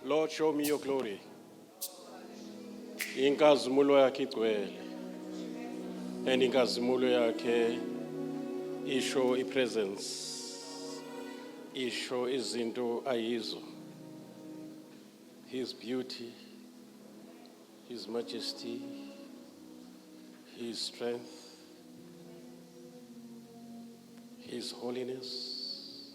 Lord, show me your glory. Inkazimulo yakhe igcwele. And inkazimulo yakhe isho ipresence. Isho izinto ayizo. His beauty, his majesty, his strength, his holiness.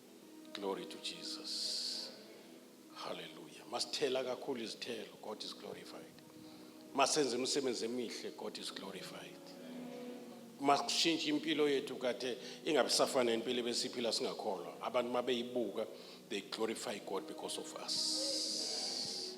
Glory to Jesus. Hallelujah. Masithela kakhulu izithelo, God is glorified. Masenze imisebenzi emihle, God is glorified. Masishintshe impilo yethu kade ingabisafana nempilo ebesiphila singakholwa. Abantu mabeyibuka, they glorify God because of us.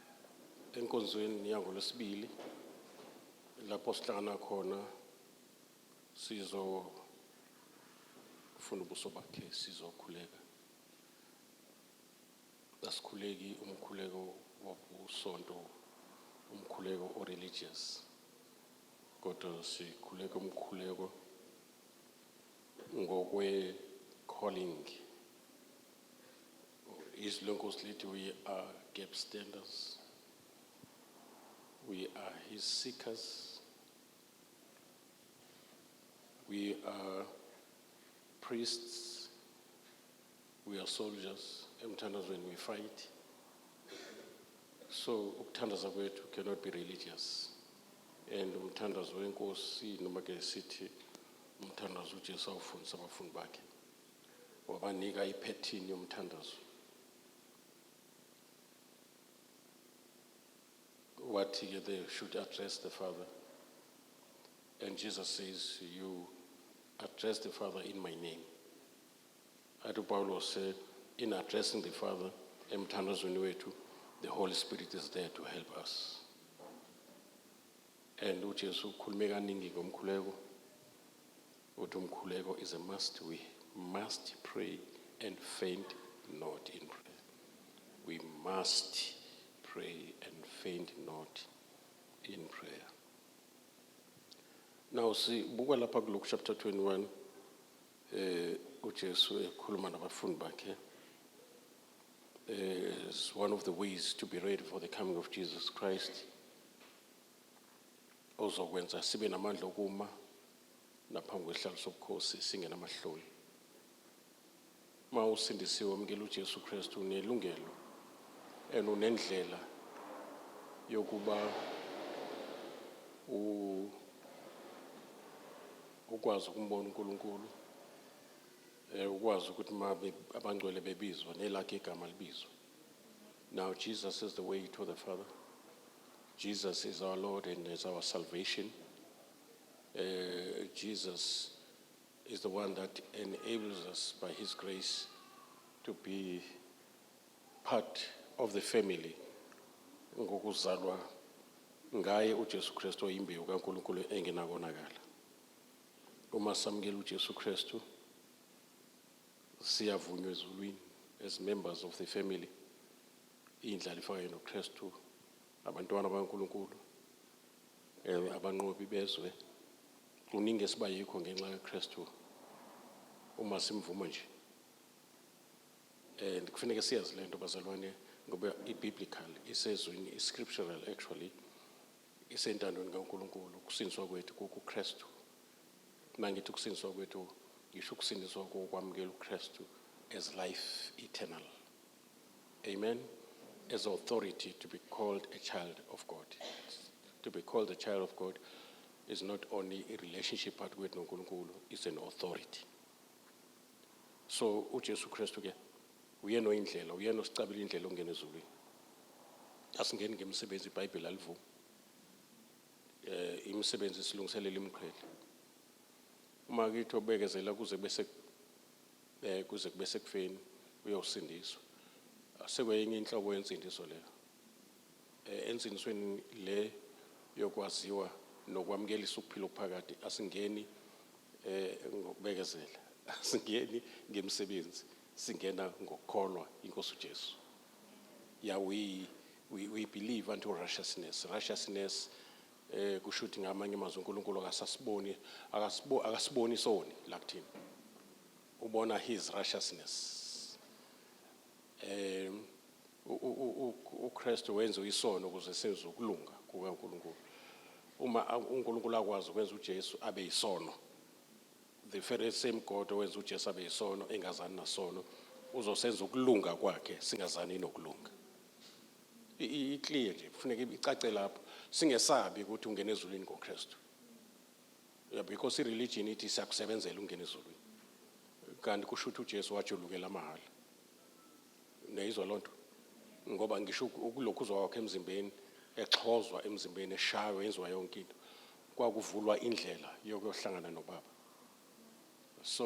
enkonzweni yangolwesibili lapho sihlangana khona sizofuna ubuso bakhe sizokhuleka asikhuleki umkhuleko wobusonto umkhuleko o-religious kodwa sikhuleka umkhuleko ngokwe-calling His locals lithi we are gap standers. We are his seekers. We are priests. We are soldiers. Emthandazweni we fight. So ukuthandaza kwethu cannot be religious. And umthandazo wenkosi noma ke sithi umthandazo uJesu awufundisa abafundi bakhe. wabanika iphethini yomthandazo wathi-ke they should address the father and jesus says you address the father in my name athi upawulos in addressing the father emthandazweni wethu the holy spirit is there to help us and ujesu ukhulume kaningi ngomkhuleko Uthi umkhuleko is a must we must pray and faint not in prayer. We must pray and faint not in prayer. Now sibuka lapha ku Luke chapter 21 eh uJesu ekhuluma nabafundi bakhe is one of the ways to be ready for the coming of Jesus Christ ozokwenza sibe namandla okuma naphambi kwesihlalo sobukhosi singenamahloni. Uma usindisiwe wamukela uJesu Kristu unelungelo and unendlela yokuba ukwazi ukumbona uNkulunkulu eh ukwazi ukuthi uma abangcwele bebizwa nelakhe igama libizwe now Jesus is the way to the father Jesus is our Lord and is our salvation Uh, Jesus is the one that enables us by his grace to be part of the family ngokuzalwa ngaye uJesu Kristu oyimbewu kaNkulunkulu engenakonakala uma samukela uJesu Kristu siyavunywa ezulwini as members of the family indlala ifakayo noKristu Abantwana bakaNkulunkulu, ewe, abanqobi bezwe, kuningi esiba yikho ngenxa kaKristu uma simvuma nje. And kufanele siyazi le nto bazalwane ngoba i-biblical isezwini i-scriptural actually isentandweni kaNkulunkulu ukusindiswa kwethu kukuKristu. Mangithi ukusindiswa kwethu ngisho ukusindiswa kokwamukela uKristu as life eternal. Amen. As authority to be called a child of God. To be called a child of God is not only a relationship part with Nkulunkulu, it's an authority. So uJesu Kristu ke uyena oyindlela, uyena osicabela indlela ongena ezulwini. Asingeni ngemisebenzi iBhayibheli alivumi. Eh imisebenzi silungiselela imqhele. Uma kithi obekezela kuze bese eh, kuze kube sekufeni uyosindiswa sekwenye inhlobo yensindiso leyo eh, ensindisweni le yokwaziwa nokwamukelisa ukuphila okuphakade asingeni eh ngokubekezela asingeni ngemisebenzi singena ngokukholwa inkosi uJesu yeah we we, we believe unto righteousness righteousness Eh kushuthi ngamanye amazwi uNkulunkulu akasasiboni akasibo akasiboni isoni la kuthina. Ubona his righteousness. Eh uKristu wenza isono ukuze senze ukulunga kukaNkulunkulu. Uma uNkulunkulu akwazi ukwenza uJesu abe isono the very same God owenza uJesu abe isono engazani nasono uzosenza ukulunga kwakhe singazani nokulunga. i-clear nje kufuneka icace lapho singesabi ukuthi ungena ezulwini ngokristu yeah, because i-religion ithi siyakusebenzela ungena ezulwini kanti kusho ukuthi ujesu wajulukela amahhala niyayizwa loo nto ngoba ngisho ukulokhu uzwa wakho emzimbeni exhozwa emzimbeni eshaywa yenziwa yonke into kwakuvulwa indlela yokuyohlangana nobaba so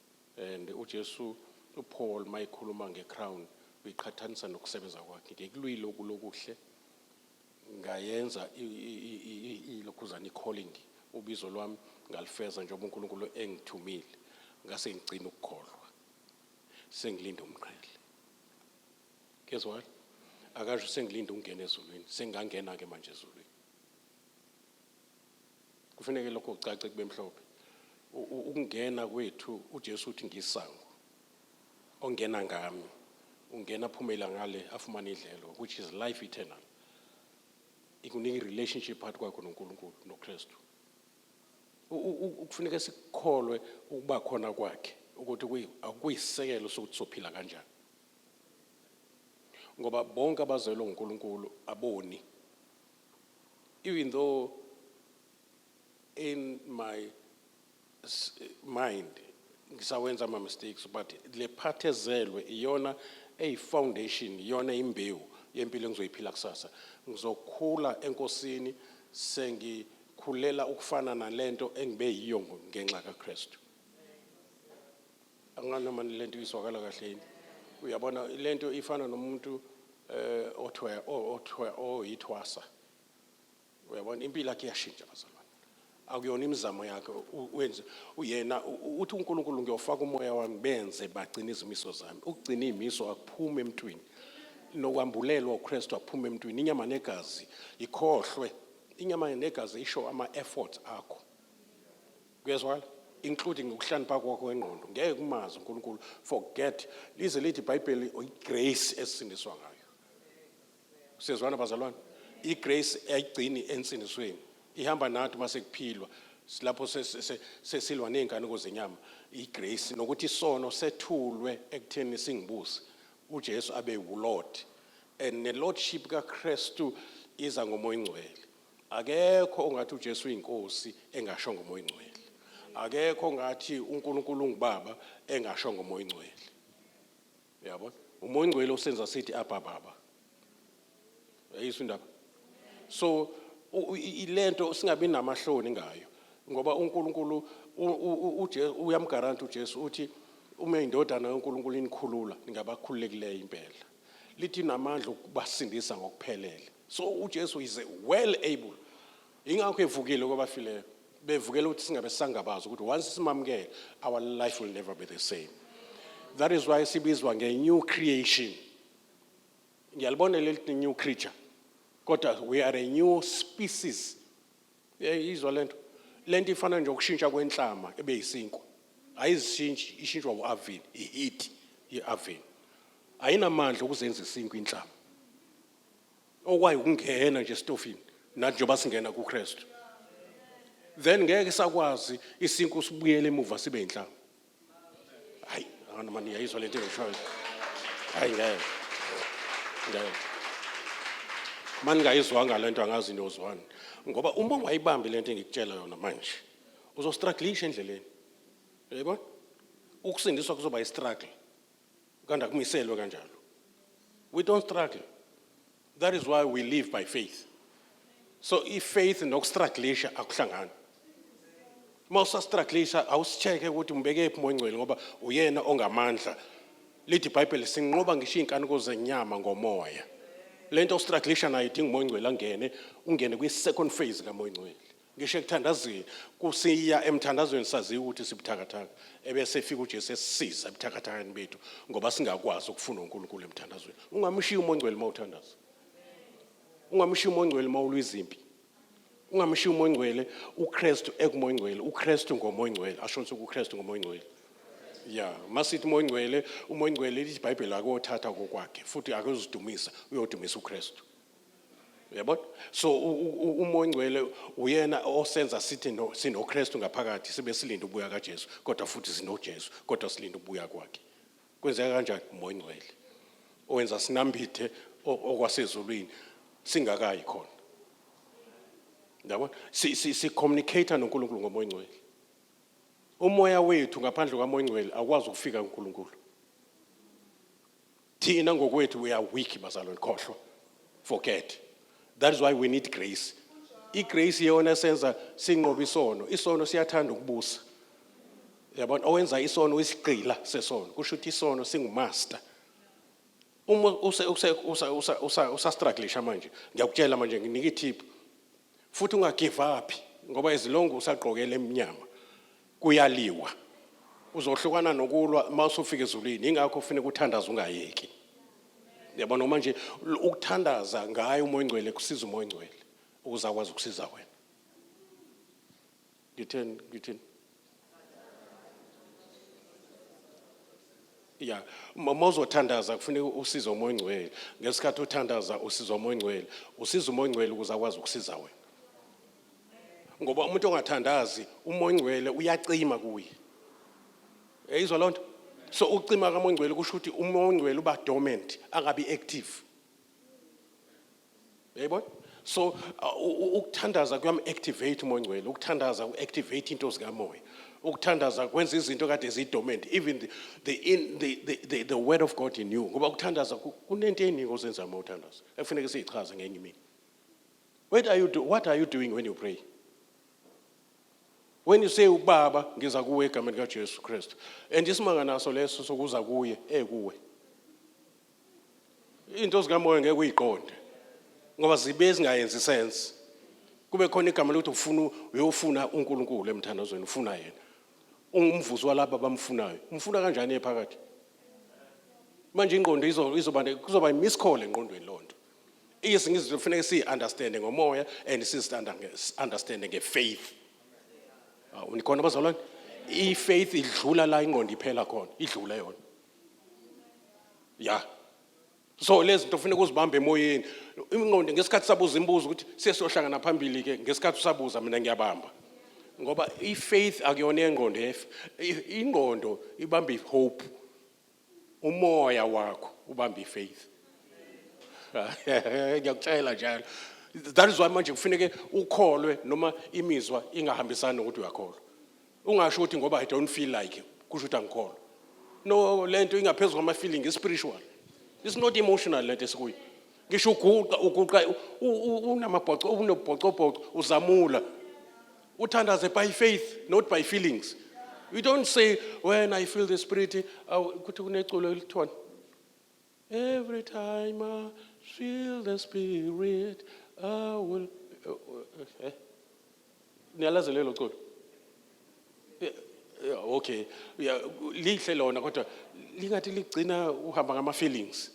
And uJesu uPaul mayikhuluma ngecrown uyiqhathanisa nokusebenza kwakhe ngikulwile okulokuhle ngayenza ilokhuzana i-calling ubizo lwami ngalifeza njengoba uNkulunkulu engithumile ngase ngigcina ukukholwa sengilinda umqhele guess what akasho sengilinda ukungena ezulwini sengangena ke manje ezulwini Kufuneke lokho kucace kube mhlophe. Ukungena kwethu uJesu uthi ngisango. Ongena ngami ungena phumela ngale afumane idlelo which is life eternal. Ikunika i-relationship phakathi kwakho noNkulunkulu noKristu. Kufuneka sikukholwe ukuba khona kwakhe ukuthi kuyisekelo sokuthi sophila kanjani. Ngoba bonke abazelwe uNkulunkulu aboni Even though in my s- mind ngisawenza ama mistakes but le part ezelwe iyona eyi foundation iyona imbewu yempilo engizoyiphila kusasa ngizokhula enkosini sengikhulela ukufana nalento engibe yiyo ngo- ngenxa kaKristu angana mani lento izwakala kahle yini uyabona lento ifana nomuntu eh othwe othwe oyithwasa uyabona impilo yakhe iyashintsha bazalwane akuyona imizamo yakhe wenze uyena uthi uNkulunkulu ngiyofaka umoya wami benze bagcina izimiso zami ukugcina izimiso akuphumi emntwini nokwambulelwa uKristu akuphumi emntwini inyama negazi ikhohlwe inyama negazi isho ama effort akho kuyezwakala including ukuhlaniphaka kwakho wengqondo ngeke kumazi uNkulunkulu forget lize lithi iBhayibheli igrace esindiswa ngayo siyezwana bazalwane igrace ayigcini ensindisweni ihamba nathi uma sekuphilwa lapho sesilwa ney'nkanuko zenyama igrace nokuthi isono sethulwe ekutheni singibusi ujesu abe wulord and nelordship kakristu iza ngomoya ingcwele Akekho ongathi uJesu uyinkosi engasho ngomoya ongcwele. Akekho ongathi uNkulunkulu ungubaba engasho ngomoya ongcwele. Uyabona? Umoya ongcwele usenza sithi abba baba. Ayisho indaba. So ilento singabi namahloni ngayo ngoba uNkulunkulu uyamgaranta uJesu uthi uma indodana yoNkulunkulu inikhulula ningabakhululekileyo impela. lithi namandla okubasindisa ngokuphelele so uJesu is well able ingakho evukile kwabafileyo bevukela ukuthi singabe sangabazi ukuthi once simamukele our life will never be the same that is why sibizwa nge-new creation ngiyalibona leli new creature kodwa we are a new species Hey izwa lento. Lento ifana nje ukushintsha kwenhlama ebe yisinkwa. Ayizishintshi ishintshwa uAvin, iheat yeAvin. Ayinamandla ukuzenza isinkwa inhlama. Okwayo ukungena nje estofini nathi njengoba singena kuKristu. Then ngeke sakwazi isinkwa usibuyele emuva sibe inhlama. Hayi, abantu mani yayizwa lento engishoyo. Hayi ngeke. Ngeke. Mani ngayizwanga lento angazi niyozwani. Ngoba uma ungayibambi lento engikutshela yona manje, uzostruggle endleleni. Yebo? Ukusindiswa kuzoba istruggle. Kanda kumiselwe kanjalo. We don't struggle. That is why we live by faith. So if faith nokustruglisha akuhlangani. Uma usastruglisha awusicheke ukuthi umbeke phi moyingcwele ngoba uyena ongamandla. Lithi iBhayibheli sinqoba ngisho inkanuko zenyama ngomoya. Lento ostruglisha nayo idinga umoyingcwele angene, ungene kwi second phase kamoyingcwele. Ngisho ekuthandazweni kusiya emthandazweni saziwa ukuthi sibuthakathaka ebese efika uJesu esisiza ebuthakathakeni bethu ngoba singakwazi ukufuna uNkulunkulu emthandazweni. Ungamshiya umongcwele uma uthandaza. Ungamshiya umongcwele uma ulwa izimpi. Ungamshiya umongcwele uKristu ekumongcwele, uKristu ngomongcwele, asho ukuthi uKristu ngomongcwele. ya masithi umongcwele umongcwele lithi ibhayibheli akothatha kokwakhe futhi akozidumisa uyodumisa ukristu uyabona so uma ongcwele uyena osenza sithi no sinoKristu ngaphakathi sibe silinde ukubuya kaJesu kodwa futhi sinoJesu kodwa silinde ukubuya kwakhe kwenzeka kanjani umoya ongcwele owenza sinambithe okwasezulwini singakayi khona yabona si si, si communicate noNkulunkulu ngomoya ongcwele umoya wethu ngaphandle kwamoya ongcwele awukwazi ukufika kuNkulunkulu thina ngokwethu we are weak bazalwane khohlwa forget that is why we need grace igrace iyona senza sinqoba isono isono siyathanda ukubusa yabona owenza isono uyisigqila sesono kusho ukuthi isono singumaster uma usa usa usa usa usa struggle manje ngiyakutshela manje nginika ithiphu futhi ungagivaphi ngoba izilongo usagqokele emnyama kuyaliwa uzohlukana nokulwa uma usufika ezulwini ingakho kufuneka uthandaze ungayeki yabo noma nje ukuthandaza ngayo umoya ongcwele kusiza umoya ongcwele ukuze akwazi ukusiza wena ngitheni ngithini ya uma uzothandaza kufuneka usize umoya ongcwele ngesikhathi uthandaza usiza umoya ongcwele usiza umoya ongcwele ukuze akwazi ukusiza wena ngoba umuntu ongathandazi umoya ongcwele uyacima kuye eyizwa loo nto so ukucima kamoya ongcwele kusho ukuthi umoya ongcwele uba dormant angabi active Yayibona? So uh, ukuthandaza kuyam activate umoya ongcwele, ukuthandaza u activate into zikamoya. Ukuthandaza kwenza izinto kade zidormant, even the the, in, the, the, the, the word of God in you. Ngoba ukuthandaza kunento eningi ozenza uma uthandaza. Ekufuneka siyichaze ngenye imini. What are you do, what are you doing when you pray? When you say ubaba ngiza kuwe egameni kaJesu Kristu and isimanga naso leso sokuza kuye ekuwe. Eh, into zikamoya ngeke uyiqonde ngoba zibe zingayenzi sense kube khona igama lokuthi ufuna uyofuna uNkulunkulu emthandazweni ufuna yena ungumvuzo walabo abamfunayo umfuna kanjani ephakathi manje ingqondo izoba kuzoba imiscall engqondweni lonto izinto kufanele siyi-understand ngomoya and sizi-understand ngefaith awu nikhona bazalwane i-faith idlula la ingqondo iphela khona idlula yona ya so lezi zinto funeka uzibambe emoyeni ingqondo ngesikhathi sabuza imibuzo ukuthi siye sohlangana phambili ke ngesikhathi usabuza mina ngiyabamba ngoba i-faith akuyona yengqondo ingqondo ibamba i-hope umoya wakho ubamba i-faith ngiyakutshela njalo that is why manje kufuneke ukholwe noma imizwa ingahambisani nokuthi uyakholwa Ungasho ukuthi ngoba I don't feel like kusho ukuthi angikholwa. No lento ingaphezulu kwama feeling spiritual. It's not emotional lento esikuyo. Ngisho uguqa uguqa unamabhoco unobhocobhoco uzamula. Uthandaze by faith not by feelings. You don't say when I feel the spirit ukuthi kuneculo elithona. Every time I feel the spirit, I will. Eh, eh. Niyalazi lelo culo? Eh, yeah, Okay. Yeah, lihle lona kodwa lingathi ligcina uhamba ngama feelings.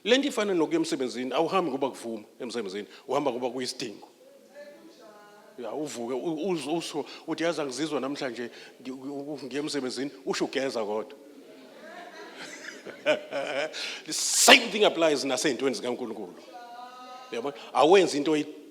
Le nto ifana nokuya emsebenzini awuhambi ngoba kuvuma emsebenzini uhamba ngoba kuyisidingo ya uvuke usho uthi yazi angizizwa namhlanje ngiye emsebenzini usho ugeza kodwa the same thing applies nasey'ntweni zikankulunkulu yabona awenzi into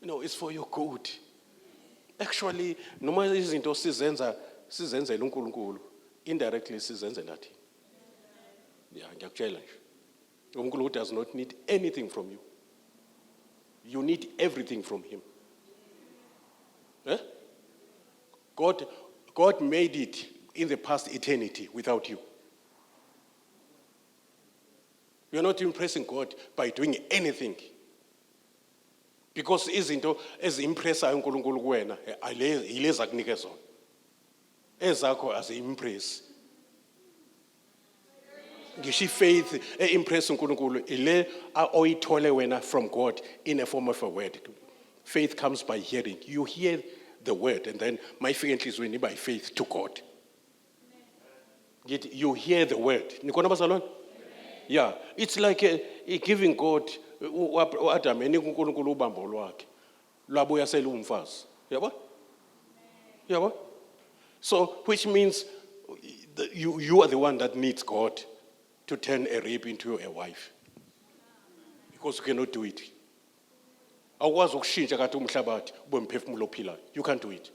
you know it's for your good actually noma izinto sizenza sizenzela uNkulunkulu indirectly sizenzela thina yeah ngiyakutshela nje uNkulunkulu does not need anything from you you need everything from him eh God God made it in the past eternity without you you're not impressing God by doing anything because izinto eziimpressayo uNkulunkulu kuwena yilezi akunike zona ezakho aziimpress ngisho ifaith e-impress uNkulunkulu ile oyithole wena from God in a form of a word faith comes by hearing you hear the word and then mayifika enhlizweni iba yifaith to God ngithi you hear the word nikhona abazalwane yeah it's like a, a giving god uadam enika unkulunkulu ubambo lwakhe lwabuya selumfazi yabo yabo so which means you, you are the one that needs god to turn a rape into a wife because you cannot do it awukwazi ukushintsha kade umhlabathi ube mphefumulo ophilayo you can't do it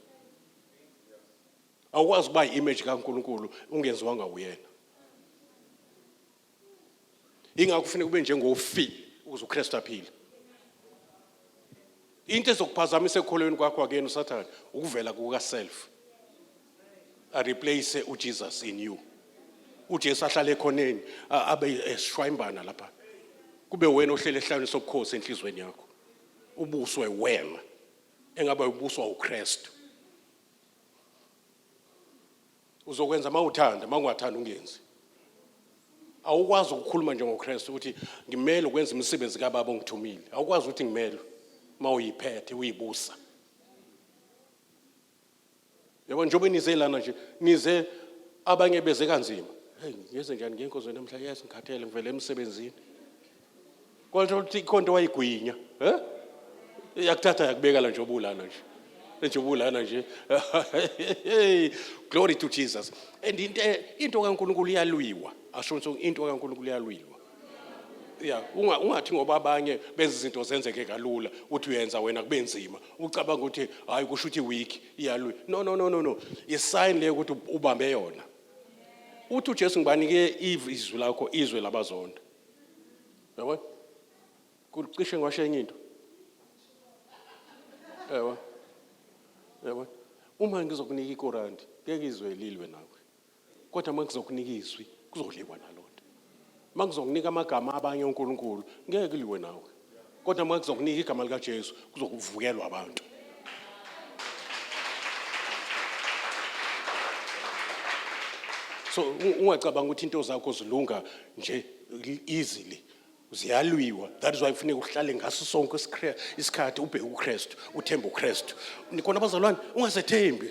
awukwazi ukuba yi-image kaNkulunkulu ungenziwanga uyena ingakho kufuneka ube njengofile ukuze uKristu aphile into ezokuphazamisa ekukholweni kwakho akuyena usathane ukuvela kukaself areplace uJesus in you uJesu ahlale ekhoneni abe esishwayimbana lapha kube wena ohlele ehlawini sobukhosi enhlizweni yakho ubuswe wena engabe ubuswa uKristu uzokwenza uma uthanda uma ungathanda ungenzi awukwazi ukukhuluma njengokristu ukuthi ngimele ukwenza imisebenzi kababa ongithumile awukwazi ukuthi ngimele uma uyiphethe uyibusa yabo njengoba nize lana nje nize abanye beze kanzima heyi ngenze njani ngenkonzo namhla yes ngikhathele ngivele emsebenzini Kwaluthola ukuthi ikhonto wayigwinya eh yakuthatha yakubeka la nje obulana nje nje ubulana nje glory to jesus and into into kaNkuluNkulu iyalwiwa asho nso into kaNkuluNkulu iyalwiwa ya unga ungathi ngoba abanye benza izinto zenzeke kalula uthi uyenza wena kube nzima ucabanga ukuthi hayi kusho ukuthi weak iyalwi no no no no no i sign le ukuthi ubambe yona uthi uJesu ngibanike izwi lakho izwe labazonda yabo kucishe ngiwashe enye into yabo yabo uma ngizokunika ikorandi ngeke izwe lilwe nawe kodwa uma ngizokunika izwi kuzoliwa nalona uma ngizokunika amagama abanye uNkulunkulu ngeke liwe nawe kodwa uma kuzokunika igama likaJesu kuzokuvukelwa abantu so ungacabanga ukuthi into zakho zilunga nje easily ziyalwiwa that is why kufuneka uhlale ngaso sonke isikhathi ubheke uKristu uthembe uKristu nikona abazalwane ungazethembi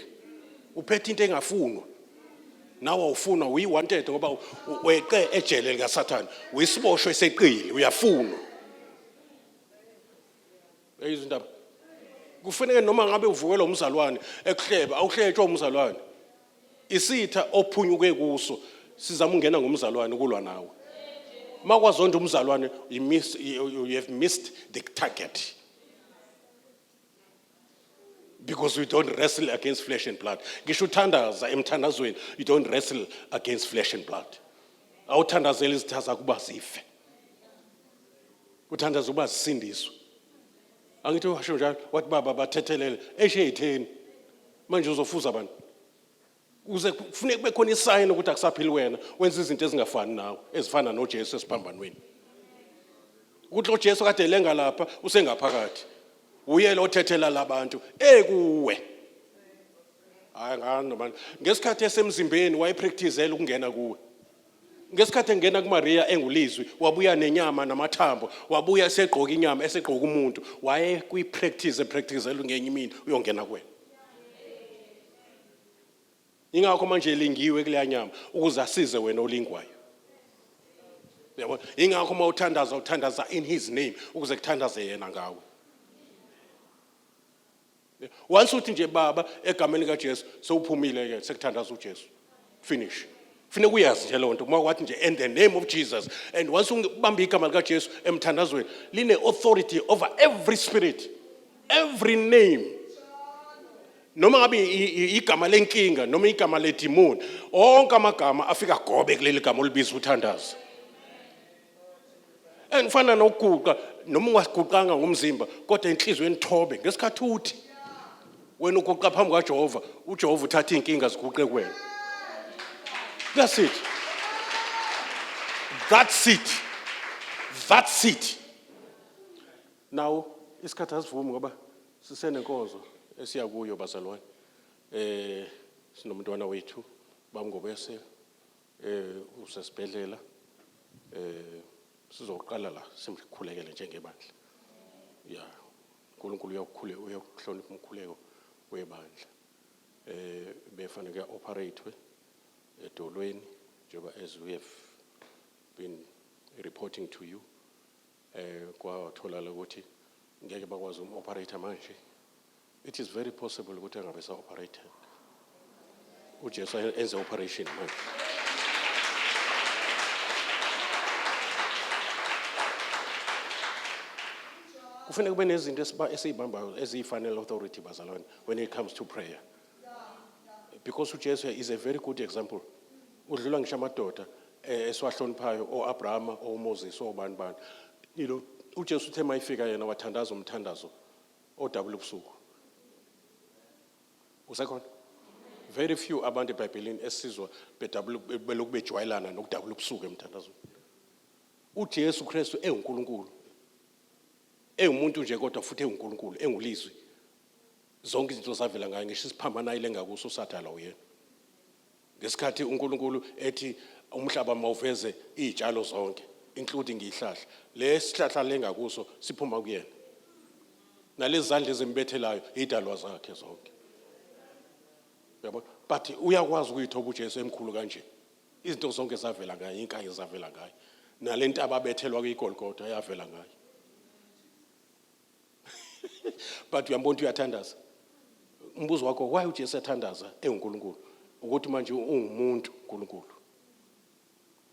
uphethe into engafunwa nawe ufunwa uyi wanted ngoba weqe ejele lika Satan uyisiboshwe seqili uyafunwa eyizindaba kufanele noma ngabe uvukela umzalwane ekuhleba awuhletshwa umzalwane isitha ophunyuke kuso sizama ungena ngomzalwane kulwa nawe makwazonda umzalwane you have missed the target because we don't wrestle against flesh and blood ngisho uthandaza emthandazweni you don't wrestle against flesh and blood awuthandazeli izitha zakho uba zife uthandaza uba zisindiswe angithi washo njalo wathi baba bathethelele esheyitheni manje uzofuza abantu kuze kufuneka kube khona isayini ukuthi akusaphili wena wenza izinto ezingafani nawe ezifana noJesu esiphambanweni ukuthi loJesu kade lenga lapha usengaphakathi uye lo thethela labantu ekuwe hayi ngani manje ngesikhathi esemzimbeni wayepracticela ukungena kuwe ngesikhathi engena kuMaria engulizwi wabuya nenyama namathambo wabuya esegqoka inyama esegqoka umuntu waye kwi practice practicela ngenye imini uyongena kuwena ingakho manje elingiwe kuleya nyama ukuze asize wena olingwayo yabo ingakho uma uthandaza uthandaza in his name ukuze kuthandaze yena ngawe once uthi nje baba egameni kaJesu sewuphumile ke sekuthandaza uJesu finish Funa kuyazi nje lonto uma wathi nje in the name of Jesus and once ubamba igama lika Jesu emthandazweni line authority over every spirit every name noma ngabe igama lenkinga noma igama ledimoni onke amagama afika gobe kuleli gama olibiza uthandaza engifana nokuguqa noma ungaguqanga ngomzimba kodwa enhlizweni thobe ngesikhathi uthi wena uguqa phambi kwaJehova uJehova uthatha izinkinga ziguqe kuwena that's it that's it that's it now isikhathi asivumi ngoba Sisenenkonzo esiya kuyo bazalwane. Eh sinomntwana wethu bamngobese eh usesibhedlela eh sizoqala la simkhulekele njengebandla. Yeah. uNkulunkulu uyakukhule uyakuhlonipha umkhuleko webandla eh befana kuya operate edolweni njengoba as we have been reporting to you eh kwatholala ukuthi ngeke bakwazi um operator manje it is very possible ukuthi angabe sa operator uJesu enze operation manje kufanele kube nezinto esizibambayo eziyifanele authority bazalwane when it comes to prayer because uJesu is a very good example udlula ngisho amadoda eh, esiwahloniphayo oAbrahama oMoses obani bani ilo uJesu uthe mayifika yena wathandaza umthandazo odabula ubusuku usekhona very few abantu eBhayibhelini esizwa bedabula belokhu bejwayelana nokudabula ubusuku emthandazweni uJesu Kristu enguNkulunkulu engumuntu nje kodwa futhi enguNkulunkulu engulizwi zonke izinto zavela ngaye ngisho isiphambano ayilenga kuso usathane la uyena ngesikhathi uNkulunkulu ethi umhlaba mawuveze izitshalo zonke including ihlahla lesihlahla lenga kuso siphuma kuyena nalezi zandla ezimbethelayo idalwa zakhe zonke yabona but uyakwazi ukuyithoba uJesu emkhulu kanje izinto zonke zavela ngaye inkayi zavela ngaye nalentaba abethelwa kuyigolgotha yavela ngaye but uyambona ukuthi uyathandaza umbuzo wakho why ujesu yathandaza engunkulunkulu ukuthi manje ungumuntu unkulunkulu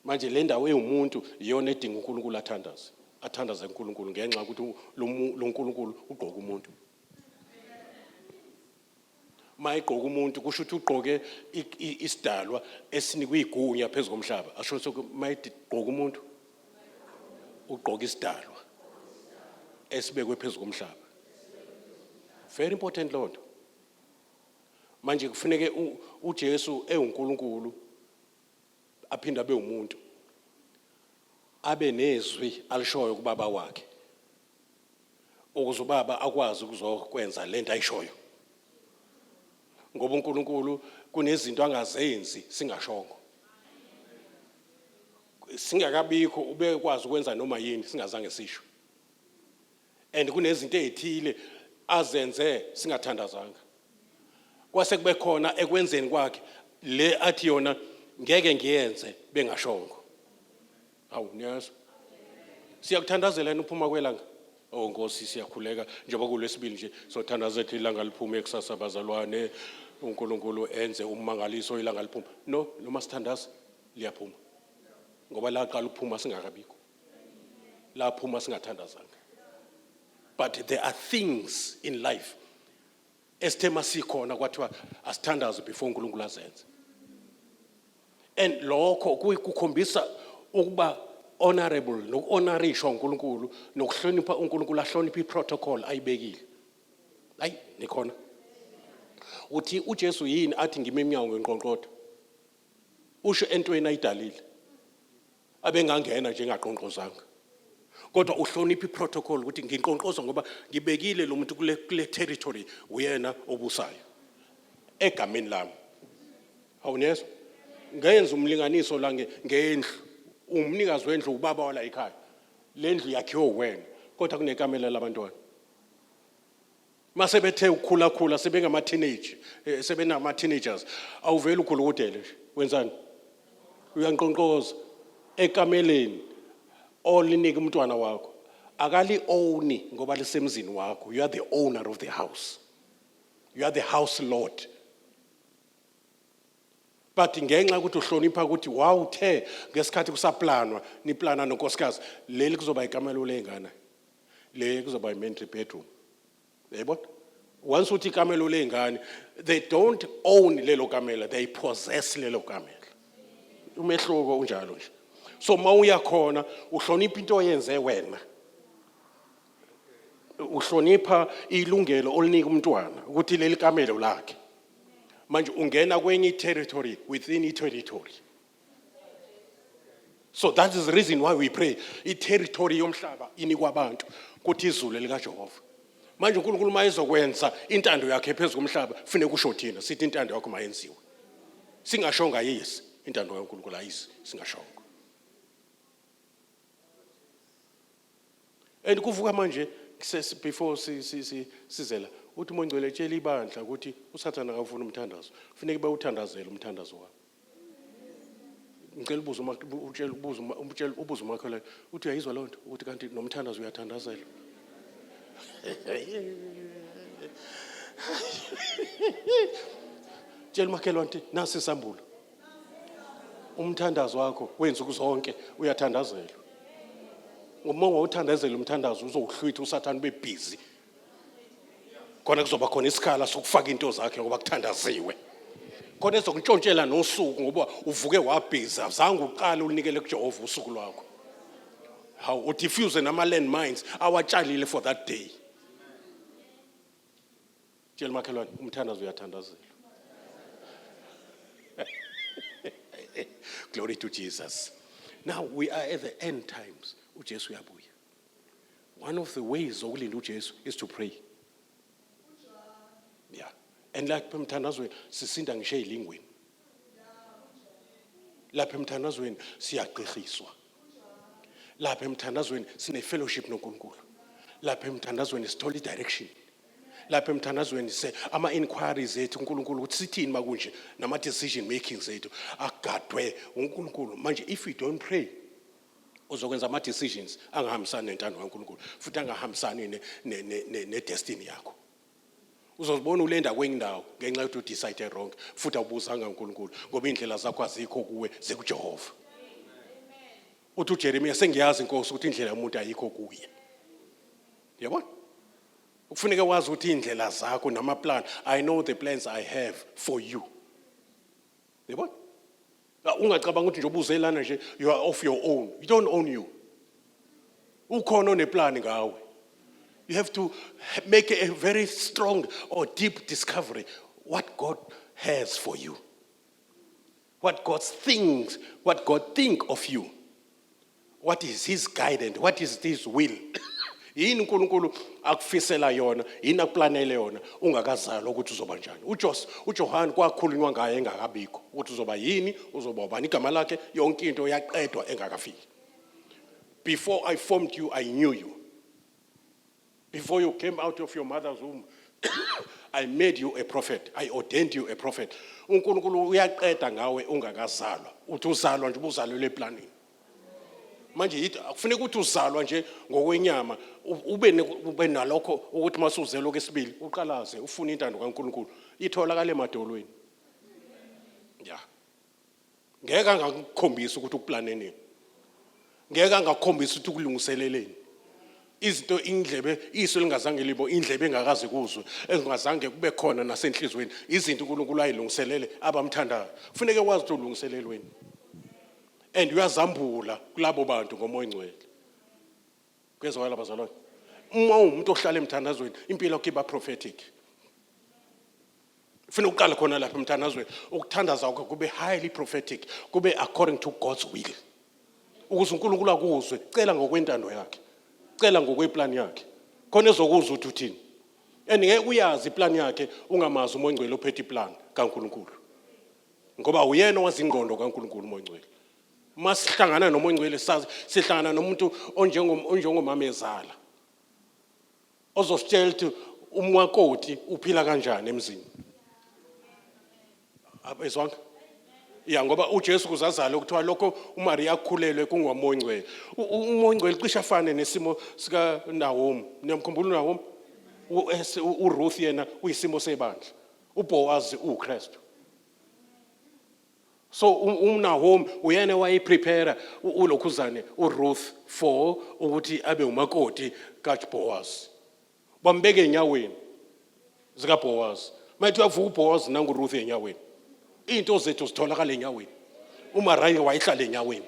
manje le ndawo ewumuntu iyona edinga unkulunkulu athandaze athandaze unkulunkulu ngenxa yokuthi lo nkulunkulu ugqoka umuntu mayigqoka umuntu kusho ukuthi ugqoke isidalwa esinikuyigunya phezu komhlaba asho ukuthi mayigqoka umuntu ugqoka isidalwa esibekwe phezu komhlaba very important loo nto manje kufuneke uJesu ewuNkulunkulu aphinde abe umuntu abe nezwi alishoyo kubaba wakhe ukuze ubaba akwazi ukuzokwenza lento ayishoyo ngoba uNkulunkulu kunezinto angazenzi singashongo singakabikho ubekwazi ukwenza noma yini singazange sisho and kunezinto ezithile azenze singathandazanga kwase kube khona ekwenzeni kwakhe le athi yona ngeke ngiyenze bengashongo Awu niyazi. Siyakuthandazela yini uphuma kwelanga? Oh Nkosi siyakhuleka njengoba kulesibili nje sothandaza ethi ilanga liphume ekusasa bazalwane uNkulunkulu enze ummangaliso ilanga liphuma. No, noma sithandaza liyaphuma. Ngoba laqala ukuphuma singakabikho. Laphuma singathandazanga. But there are things in life esithe masikhona kwathiwa asithandaze before uNkulunkulu azenze and lokho kukhombisa ukuba honorable nokuhonorishwa uNkulunkulu nokuhlonipha uNkulunkulu ahloniphe iprotocol ayibekile ayi nikhona uthi uJesu yini athi ngime emnyango ngenqonqotho usho entweni ayidalile abengangena nje ngaqonqozanga kodwa uhlonipha iprotocol ukuthi nginqonqoza ngoba ngibekile lo muntu kule kule territory uyena obusayo egameni lami awunezwa ngenza umlinganiso la ngendlu umnikazi wendlu ubaba wala ekhaya lendlu yakhiwe wena kodwa kunekamela labantwana mase bethe ukukhulakhula sebengama teenage eh, sebenama teenagers awuveli ukhulukudele nje wenzani uyanqonqoza ekameleni olinike umntwana wakho akali owni ngoba lisemzini wakho you are the owner of the house you are the house lord but ngenxa yokuthi uhlonipha ukuthi wawuthe ngesikhathi kusaplanwa niplana nonkosikazi leli kuzoba ikamelo lengane le kuzoba i-mandatory bedroom yayibona once uthi ikamelo ley'ngane they don't own lelo kamela they possess lelo kamela umehluko unjalo nje so uma uya khona uhlonipha into oyenze wena uhlonipha ilungelo olinika umntwana ukuthi leli kamelo lakhe manje ungena kwenye i-territory within i-territory so that is the reason why we pray iterritory yomhlaba inikwa abantu kuthi izulu elikajehova manje unkulunkulu uma ezokwenza intando yakhe phezu komhlaba funeka usho thina sithi intando yakho mayenziwe singashonga yisi intando kankulunkulu ayisi singashonga and kuvuka manje kusesi- before si- si- si- sizela uthi mongcwele tshela ibandla ukuthi usathane akawufuni umthandazo funeke bewuthandazele umthandazo wabo ngicela ubuze uma utshela ubuze uma- umtshela- ubuze umakhelwane uthi uyayizwa loo nto ukuthi kanti nomthandazo uyathandazelwa tshela umakhelwane ukuthi nasi isambulo umthandazo wakho wenzuku zonke uyathandazelwa uma ungawuthandazeli umthandazo uzowuhlwitha usathane ube busy khona kuzoba khona isikhala sokufaka into zakhe ngoba kuthandaziwe khona ezokuntshontshela nosuku ngoba uvuke wabhizi azange uqale ulinikele kujehova usuku lwakho hawu udifuse nama-land mines awatshalile for that day Tshela umakhelwane umthandazo uyathandazelwa. Glory to Jesus. Now we are at the end times. UJesu uyabuya. One of the ways zokulinda uJesu is to pray. Yeah. And like emthandazweni sisinda ngisho ezilingweni. Lapha emthandazweni siyagqirhiswa. Lapha emthandazweni sine fellowship noNkulunkulu. Lapha emthandazweni sithola i direction. lapha emthandazweni se ama inquiries ethu uNkulunkulu ukuthi sithini makunje nama decision making zethu agadwe uNkulunkulu manje if you don't pray uzokwenza ama decisions angahambisani nentando kaNkulunkulu futhi angahambisani ne, ne, ne, ne, ne destiny yakho uzozibona ulenda kwenye indawo ngenxa yokuthi udecide wrong futhi awubuzanga uNkulunkulu ngoba indlela zakho azikho kuwe zikuJehova uthi uJeremiya sengiyazi inkosi ukuthi indlela yomuntu ayikho kuye yabona kufuneka wazi ukuthi iy'ndlela zakho namaplan i know the plans i have for you yabona ungacabanga ukuthi nje ubuze lana nje you are off your own you don't own you ukhona oneplani ngawe you have to make a very strong or deep discovery what god has for you What God thinks, what God think of you. What is his guidance? What is his will? yini uNkulunkulu akufisela yona yini akuplanele yona ungakazalwa ukuthi uzoba njani uJos uJohane kwakhulunywa ngaye engakabikho ukuthi uzoba yini uzoba ubani igama lakhe yonke into yaqedwa engakafiki before i formed you i knew you Before you came out of your mother's womb, I made you a prophet. I ordained you a prophet. UNkulunkulu uyaqeda ngawe ungakazalwa. Uthi uzalwa nje ubuzalelwe eplanini. Manje yithi akufuneka ukuthi uzalwa nje ngokwenyama ube ube nalokho ukuthi masuzelwe kwesibili uqalaze ufune intando kaNkulunkulu itholakala emadolweni. Yeah. ngeke angakukhombisa ukuthi uplane nini ngeke angakukhombisa ukuthi ukulungiseleleni izinto indlebe iso lingazange libo indlebe engakaze kuzwe engazange kube khona nasenhlizweni izinto uNkulunkulu ayilungiselele abamthandayo kufuneke wazi ukuthi ulungiselelweni and uyazambula kulabo bantu ngomoya ongcwele kuyezwakala bazalwane uma uwumuntu ohlala emthandazweni impilo yakho iba prophetic funa uqale khona lapha emthandazweni ukuthandaza kwakho kube highly prophetic kube according to God's will ukuze uNkulunkulu akuzwe cela ngokwentando yakhe cela ngokweplan yakhe khona ezokuzwa ukuthi uthini and ngeke uyazi iplan yakhe ungamazi umoya ongcwele ophethe iplan kaNkulunkulu ngoba uyena owazingqondo kaNkulunkulu umoya ongcwele uma sihlangana noma ongcwele sazi sihlangana nomuntu onjengomamezala ozositshela ukuthi umwakoti uphila kanjani emzini abezwanga ya ngoba uJesu kuzazala ukuthiwa lokho uMaria akhulelwe kungomongcwele umongcwele cishe afane nesimo sika Nahomi niyamkhumbula uNahomi uRuth yena uyisimo sebandla uBoaz uKristu so umnahomi uyena wayiprepare ulokhuzane uruth for ukuthi abe umakoti kabhowazi bambeke enyaweni zikabhowazi mayethi uyavuka ubhowazi nanguruth enyaweni iy'nto zethu zitholakala enyaweni umaraye wayehlala enyaweni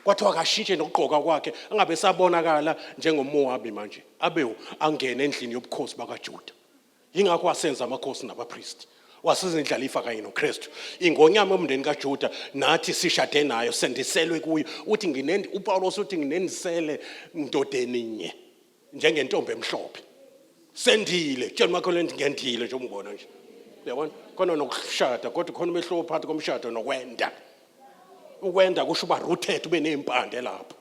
kwathiwa akashintshe nokugqoka kwakhe angabe sabonakala njengomowabi manje abe angene endlini yobukhosi bakajuda yingakho wasenza amakhosi nabapristi wasiza indlalifa kanye noKristu ingonyama omndeni kaJuda nathi sishade nayo sendiselwe kuyo uthi nginendi uPawulos uthi nginendisele ndodeni nye njengentombi emhlophe sendile tshela umakhelwane ukuthi ngendile nje umngibona nje uyabona khona nokushada kodwa khona umehluko phakathi komshado nokwenda ukwenda kusho uba rooted ube nezimpande lapho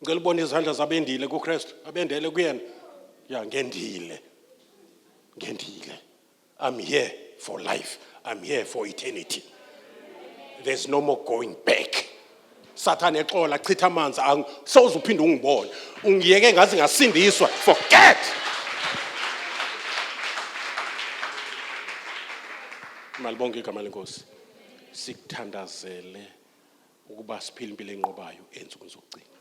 ngicela ubona izandla zabendile kuKristu abendele kuyena ya ngendile ngendile i'm here for life i'm here for eternity there's no more going back sathane exola chitha amanzi soze uphinde ungibone ungiyeke ngaze ngasindiswa forget malibonke igama lenkosi sikuthandazele ukuba siphile impilo enqobayo ensukwini zokugcina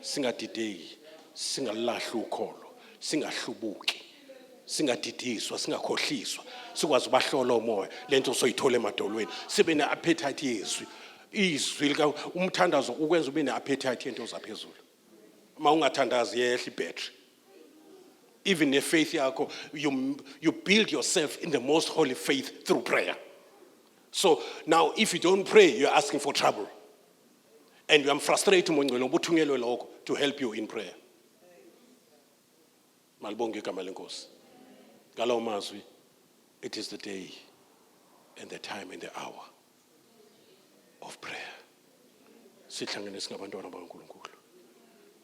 singadideki singalulahli ukholo singahlubuki singadidiswa singakhohliswa sikwazi ubahlola umoya lento soyithola emadolweni sibe ne-appetite yezwi izwi lika umthandazo ukwenza ube ne-appetite yento zaphezulu uma ungathandazi iyehla ibattery even nefaith yakho you, you build yourself in the most holy faith through prayer so now if you don't pray you're asking for trouble and uyamfrustrate umongcwele ngoba uthunyelwe lokho to help you in prayer malibonge igama lenkosi ngalawo mazwi it is the day and the time and the hour of prayer sihlangene singabantwana bakaNkulunkulu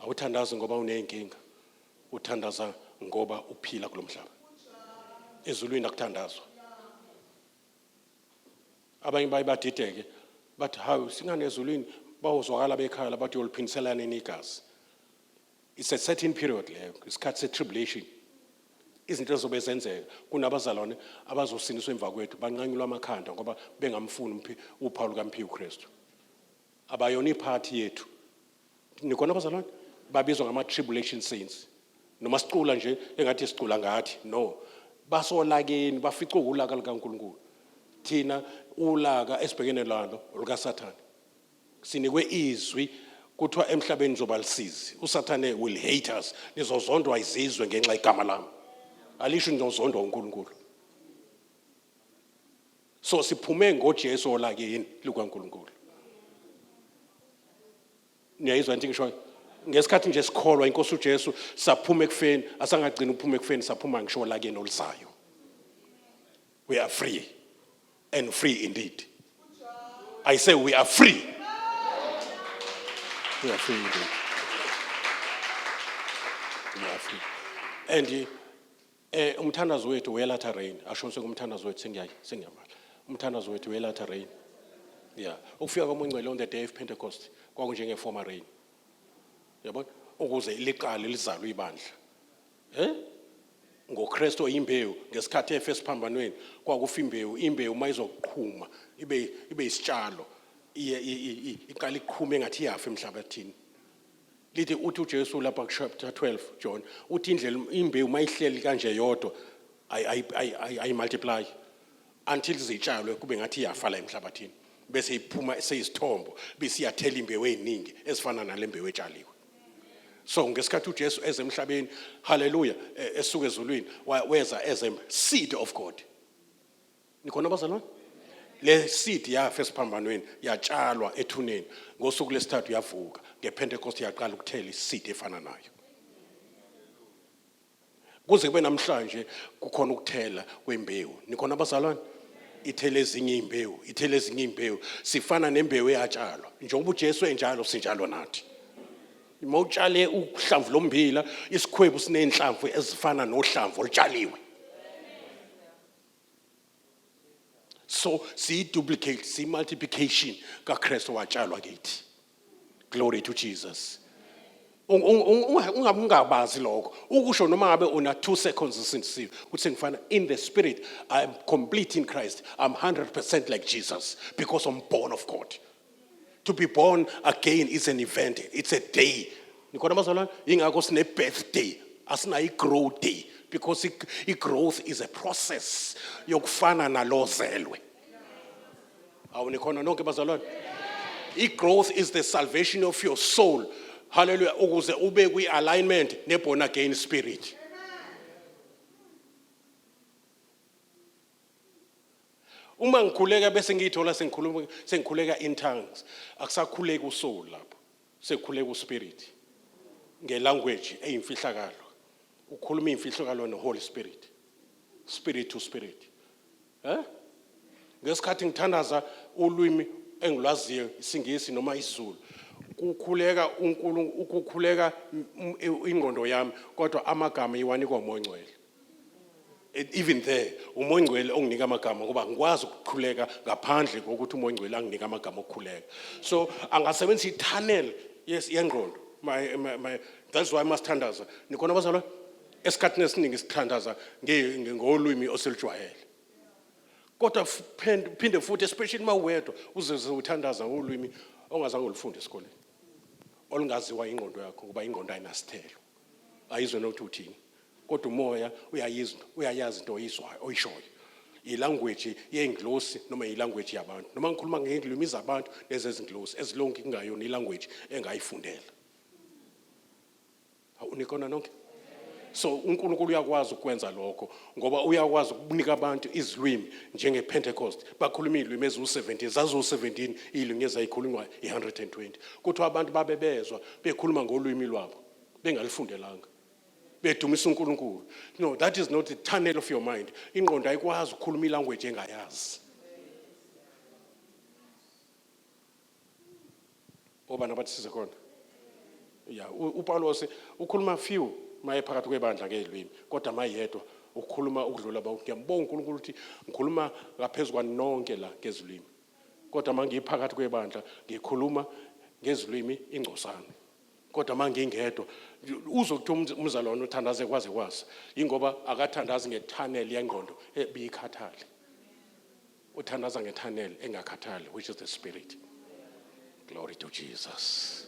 awuthandazi ngoba uneyinkinga uthandaza ngoba uphila kulomhlaba ezulwini akuthandazwa abanye baye badideke bathi hawu singane ezulwini bawuzwakala bekhaya bathi yoliphindiselana nini igazi It's a certain period leyo, isikhathi se-tribulation. Izinto ezobe zenzeka kunabazalwane abazosiniswa emva kwethu banqanyulwa amakhanda ngoba bengamfuni umphi- uphawu lukaMphiwe uKristu. Abayona iphathi yethu. Nikona abazalwane? Babizwa ngama-tribulation saints. Noma sicula nje engathi sicula ngathi. No. Basolakeni, baficwe wulaka lukaNkulunkulu. Thina ulaka esibhekene lalo olukaSathane. Sinikwe izwi kuthiwa emhlabeni nizoba lisizi. USathane will hate us. Nizozondwa izizwe ngenxa igama lami. Alisho nizozondwa uNkulunkulu. So siphume ngoJesu olakini lukaNkulunkulu. Niyayizwa into ngishoyo? Ngesikhathi nje sikholwa inkosi uJesu saphuma ekufeni, asangagcina ukuphuma ekufeni saphuma ngisho olakini oluzayo. We are free. and free indeed. I say we are free. We are free indeed. We are free. And eh umthandazo wethu welatha rain asho ngisho umthandazo wethu sengiyayi sengiyamala. Umthandazo wethu welatha rain. Yeah. Ukufika koMongcwele on the day of Pentecost kwakunjenge former rain. Yabona? Ukuze liqale lizalwe ibandla. Eh? ngoKristu oyimbewu ngesikhathi efe esiphambanweni kwakufa imbewu imbewu uma izoqhuma ibe ibe isitshalo iqala iqhuma engathi iyafa emhlabathini lithi uthi uJesu lapha ku chapter 12 John uthi indlela imbewu mayihleli kanje yodwa ayi ayi multiply until zitshalwe kube ngathi iyafa la emhlabathini bese iphuma seyisithombo bese iyathela imbewu eziningi ezifana nalembewu etshaliwe so ngesikhathi uJesu eze emhlabeni haleluya e, esuka ezulwini weza as a seed of God nikhona bazalwane le seed yafa esiphambanweni yatshalwa ethuneni ngosuku lesithathu yavuka ngepentecost yaqala ukuthela iseed efana nayo Kuze kube namhlanje kukhona ukuthela kwembewu. Nikhona abazalwane? Ithele ezinye imbewu, ithele ezinye imbewu. Sifana nembewu eyatshalwa. Njengoba uJesu enjalo sinjalo nathi. Uma utshale uhlamvu lommbila, isikhwebu sinenhlamvu ezifana nohlamvu olutshaliwe. So siyi duplicate, siyi multiplication kaKristu watshalwa kithi. glory to jesus ungabazi lokho ukusho noma ngabe una two seconds usindisiwe ukuthi ngifana in the spirit i am complete in christ i'm 100% like jesus because i'm born of god to be born again is an event it's a day nikhona bazalwane yingakho sine-birthday asinayo i-grow day because i-growth is a process yokufana nalozelwe awu nikhona nonke bazalwane i-growth is the salvation of your soul haleluya ukuze ube kwi-alignment ne-born again spirit uma ngikhuleka bese ngiyithola sengikhuluma sengikhuleka in tongues akusakhuleki usoul lapho sekukhuleka uspirit ngelanguage eyimfihlakalo ukhuluma imfihlakalo neholy spirit spirit to spirit Eh? Ngesikhathi ngithandaza ulwimi engilwaziyo isingisi noma isiZulu kukhuleka uNkulunkulu ukukhuleka ingqondo yami kodwa amagama iwanikwa uMongcwele e, even there uMongcwele onginika amagama ngoba ngikwazi ukukhuleka ngaphandle kokuthi uMongcwele anginika amagama okukhuleka so angasebenzisa i-tunnel yes yengqondo my, my, my, that's why masithandaza nikhona abazalwane esikhathini esiningi sithandaza ngolwimi osilujwayele kodwa phinde futhi especially uma uwedwa uzeze uthandaza ngolwimi ongazange ulufunde esikoleni olungaziwa ingqondo yakho ngoba ingqondo ayinasithelo ayizwe nokuthi uthini kodwa umoya uyayizi uyayazi into oyizwayo oyishoyo ilanguage yengilosi noma ilanguage yabantu noma ngikhuluma ngezilimi zabantu nezezingilosi ezilonke kungayona ilanguage engayifundela Hawu nikona nonke? So uNkulunkulu uyakwazi ukwenza lokho ngoba uyakwazi ukunika abantu izilwimi njenge Pentecost bakhuluma izilwimi eziwu17 zaziwu17 izilwimi ezayikhulunywa i120 kuthiwa abantu babe bezwa bekhuluma ngolwimi lwabo bengalifundelanga bedumisa uNkulunkulu no that is not the tunnel of your mind ingqondo ayikwazi ukukhuluma ilanguage engayazi obani abathi size khona ya upawulos ukhuluma few maye phakathi kwebandla ngezilwimi kodwa mayedwa ukukhuluma ukudlula bonke ngiyambonga unkulunkulu ukuthi ngikhuluma ngaphezu kwanonke la ngezilwimi kodwa uma ngiphakathi kwebandla ngikhuluma ngezilwimi ingcosana kodwa uma ngingedwa uzwe kuthiwa umzalwane uthandaze kwaze kwasa yingoba akathandazi ngethaneli yengqondo ebiyikhathale Uthandaza ngethanel engakhathali which is the spirit. Glory to Jesus.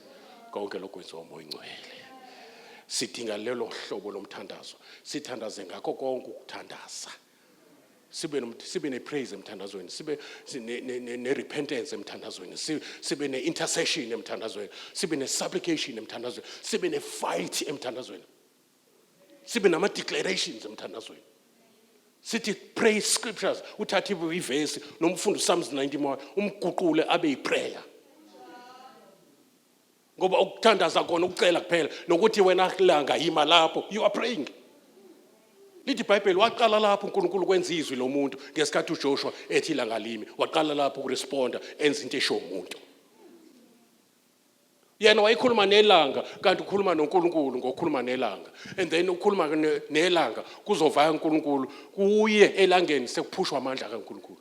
Konke lokho kwenziwa umoya ingcwele. Sidinga lelo hlobo lomthandazo. Sithandaze ngakho konke ukuthandaza. sibe sibe nepraise emthandazweni sibe ne-repentance emthandazweni sibe ne-intercession emthandazweni sibe ne-supplication emthandazweni sibe ne-fight emthandazweni sibe nama declarations emthandazweni sithi pray scriptures uthathe ivesi noma ufunda uPsalms 90 moya umguqule abe yiprayer ngoba ukuthandaza kona ukucela kuphela nokuthi wena langa yima lapho you are praying lithi ibhayibheli waqala lapho unkulunkulu kwenza izwi lomuntu ngesikhathi ujoshua ethi langalimi waqala lapho ukuresponda enza into esho umuntu yena wayekhuluma nelanga kanti ukhuluma noNkulunkulu ngokukhuluma nelanga and then ukhuluma nelanga kuzovaya uNkulunkulu kuye elangeni sekuphushwa amandla kaNkulunkulu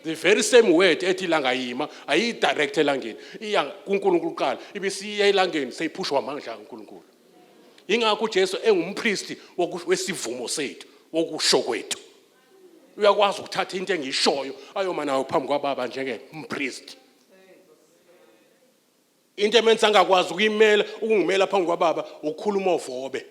the very same word ethi ilanga yima ayiyidirect elangeni iya kuNkulunkulu kuqala ibe siya elangeni seyiphushwa amandla kaNkulunkulu ingakho uJesu engumpristi wesivumo sethu wokusho kwethu uyakwazi ukuthatha into engishoyo ayoma nayo phambi kwababa njengompristi into emenza angakwazi ukuyimela ukungimela phambi kwababa ukukhuluma ovobe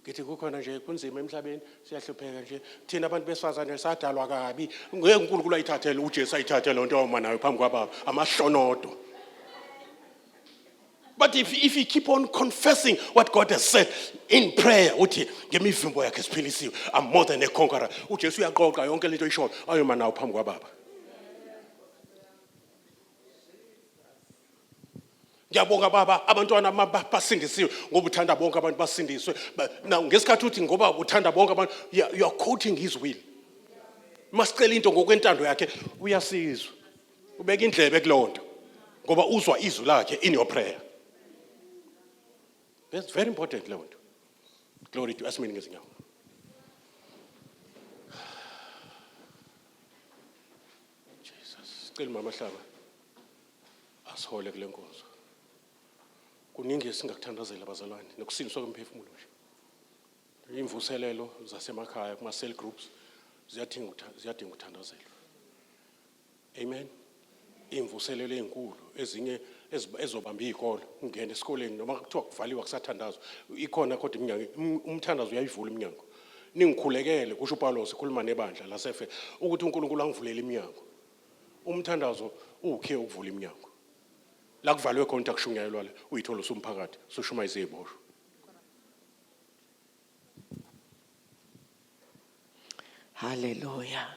ngithi kukhona nje kunzima emhlabeni siyahlupheka nje thina abantu besifazane sadalwa kabi ngeke uNkulunkulu ayithathele uJesu ayithathe lonto awuma nayo phambi kwababa amahlonodo But if, if you keep on confessing what God has said in prayer, uthi ngemivimbo yakhe siphilisiwe, I'm more than a conqueror. UJesu uyaqoqa yonke lento oyishoyo, ayoma nawo phambi kwababa. ngiyabonga baba abantwana basindisiwe ngoba uthanda bonke abantu basindiswe now ngesikhathi uthi ngoba uthanda bonke abantu you are quoting his will masicela into ngokwentando yakhe uyasizwa ubeka indlebe kuleyo nto ngoba uzwa izwi lakhe in your prayer that's very important leyo nto glory to asimini ngezinyawo Jesus, sicela mama Hlaba asihole kule nkonzo. Kuningi esingakuthandazela abazalwane nokusindiswa kwemphefumulo nje. Imvuselelo zasemakhaya kuma cell groups ziyadinga ukutha- ziyadinga ukuthandazelwa. Amen. Imvuselelo ezinkulu ezinye eziba- ezobamba izikolo ungena esikoleni noma kuthiwa kuvaliwa kusathandazwa ikhona kodwa iminyango um- umthandazo uyayivula iminyango. Ningikhulekele, kusho uPawulos ekhuluma nebandla laseFe, ukuthi uNkulunkulu angivulele iminyango. Umthandazo uwukhiye ukuvula iminyango. La kuvalwe khona akushunyayelwa la, uyithola usumphakathi, sushuma iziboshwa. Haleluya.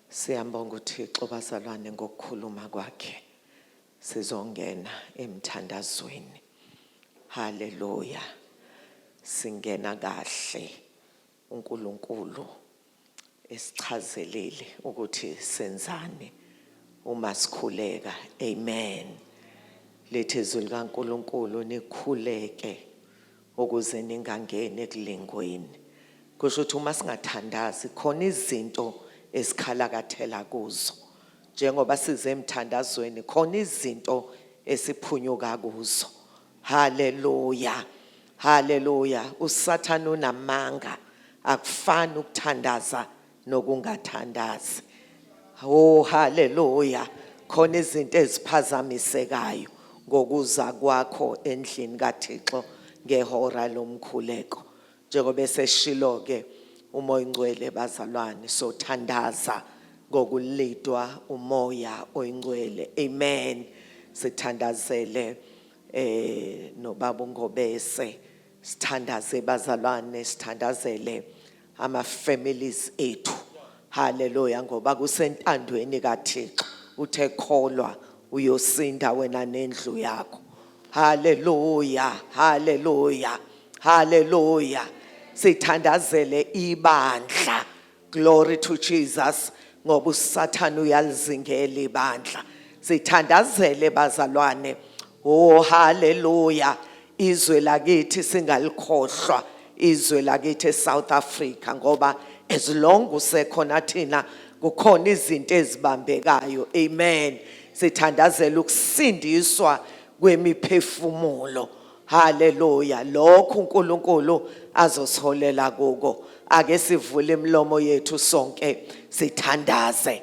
Siyambonga uThixo bazalwane ngokukhuluma kwakhe. Sizongena emthandazweni. Haleluya. Singena kahle. UNkulunkulu esichazelile ukuthi senzani uma sikhuleka. Amen. Lithi izwi likaNkulunkulu nikhuleke Ukuze ningangeni ekulingweni. Kusho ukuthi uma singathandazi khona izinto esikhalakathela kuzo. Njengoba size emthandazweni khona izinto esiphunyuka kuzo. Haleluya. Haleluya. USathane unamanga. Akufani ukuthandaza nokungathandazi oh haleluya khona izinto eziphazamisekayo ngokuza kwakho endlini kaThixo ngehora lomkhuleko njengoba eseshilo ke umoya ingcwele bazalwane so thandaza ngokulidwa umoya oyingcwele amen sithandazele eh nobaba uNgobese sithandaze bazalwane sithandazele ama families ethu haleluya ngoba kusentandweni kaThixo uthe kholwa uyosinda wena nendlu yakho haleluya haleluya haleluya sithandazele ibandla glory to Jesus ngoba usathana uyalizingela ibandla sithandazele bazalwane Oh haleluya. Izwe lakithi singalikhohlwa izwe lakithi eSouth Africa ngoba as long usekhona thina kukhona izinto ezibambekayo. Amen. Sithandazela ukusindiswa kwemiphefumulo. Haleluya. Lokho uNkulunkulu azosiholela kuko. Ake sivule imilomo yethu sonke sithandaze.